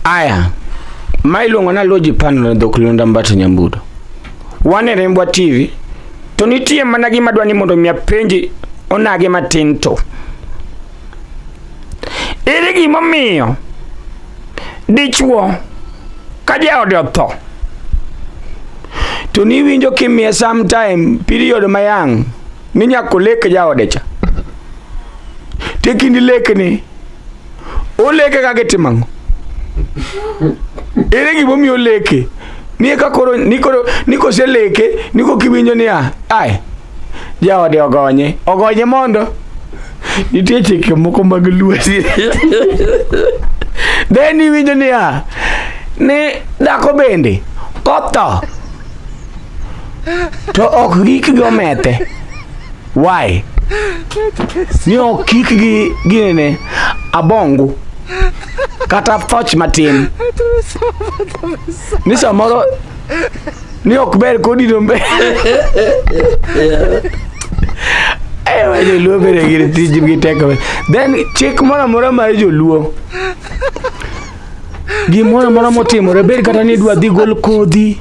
Aya, ma iluongo na Loji Panel dhok Lunda Mbato Nyambudo. Wan e Rembwa TV, to nitie mana gima dwa ni mondo mi apenji onage matin to. Ere gimomiyo dichwo ka jaode otho to niwinjo kimiye sometime period mayang' ni nyako lek jaode cha tekindi lekni oleke kaka itimo ang'o ere gimomiyo oleke ni eka koro ni koro ni koseleke ni kokiwinjo niya ai jaode ogonye ogonye mondo nitie chike moko mag lwasi then iwinjo niya ni dhako bende kotho to ok gik gi omethe why ni ok kik gi ginene abongu kata thoch matin ni samoro ni ok ber kodino mbe ewa joluo bere gir tijgi teko then chik moro amora mar joluo gimoro amora motimore bed kata ni idwa dhi gol kodhi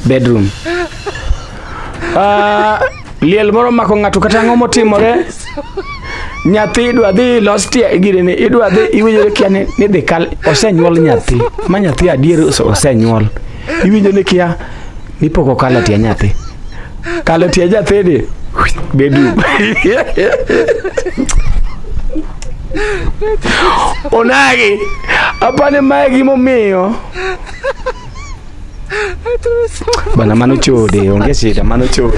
bedroom Ah, liel moro mako ng'ato kata ang'o motimore nyathi idwa dhi los tie girene idwa dhi iwinjo kia ni ni dhi kal osenyuol nyathi ma nyathi adier ose- osenyuol iwinjo ni kia Nipoko kala tia nyathi. Kala tia nyathi ni. Bedu. Onagi. Apane mae gimomiyo. Bana mano chode, onge shida, mano chode.